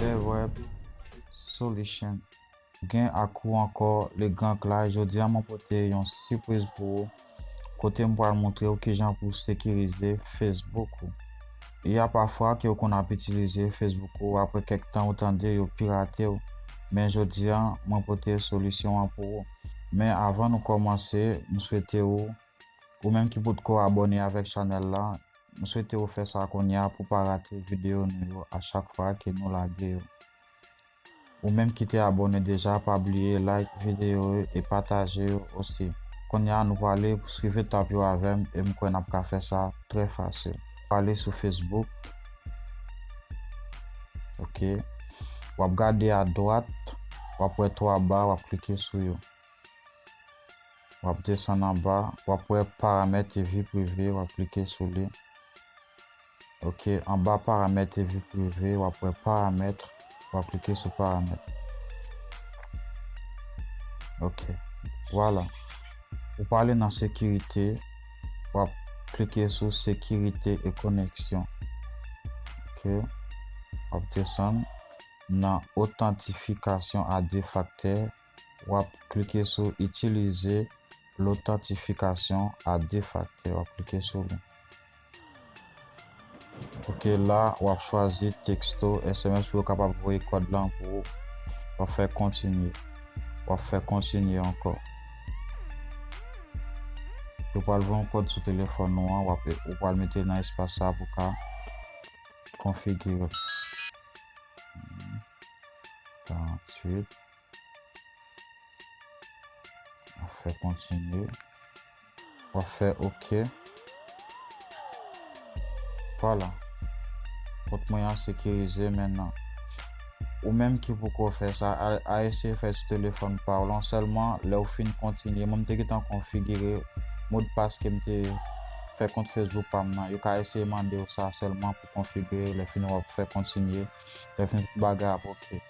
Verweb solution gen ak ou ankò le gran Clay jodia mwen pote yon sipriz pou ou kote m pral moutre ou kijan pou w sekirize Facebook ou y a pafwa ke ou konn ap itilize Facebook ou apre kèk tan ou tande yo pirate w men jodia mwen pote solisyon an pou ou men avan nou kòmanse m swete ou ou menm ki potko abòne avèk chanèl la M swete ou fè sa kounya pou pa rate videyo nou yo a chak fwa ke nou lage yo. Ou menm ki te abòne deja pa bliye like videyo yo e pataje yo osi. Kounya nou prale swiv etap yo avèm e m kwè nap ka fè sa trè fasil. Prale sou Facebook ok wap gade a dwat wap wè 3 ba wap klike sou yo. Wap desann anba wap wè paramèt e vi prive wap klike sou li ok anba paramèt e vi prive wap wè paramètre wap klike sou paramètre ok vwala ou pa ale nan sekirite wap klike sou sekirite e koneksyon ok wap desann nan otantifikasyon a 2 faktè. w ap klike sou Itilize lotantifikasyon a de faktè, w ap klike sou li. Ok la w ap chwazi teksto sms pou yo kapab voye kòd lan pou ou. W ap fè kontinye. W ap fè kontinye ankò. Yo pral voye yon kòd sou telefòn ou an, w ap ou pral mete nan espas sa pou ka konfigire. 48 Wap fè kontinye. Wap fè ok. Vwala. Kont mwen an sekirize mennan. Ou menm ki poko fè sa, a eseye fè sou telefòn pa w lan. Sèlman lè ou fin kontinye. Mwen m te gentan konfigire modpas ke m te fè kont Facebook pa m nan. Yo ka eseye mande w sa sèlman pou konfigire. Lè fini wap fè kontinye. Lè fini tout bagay ap ok.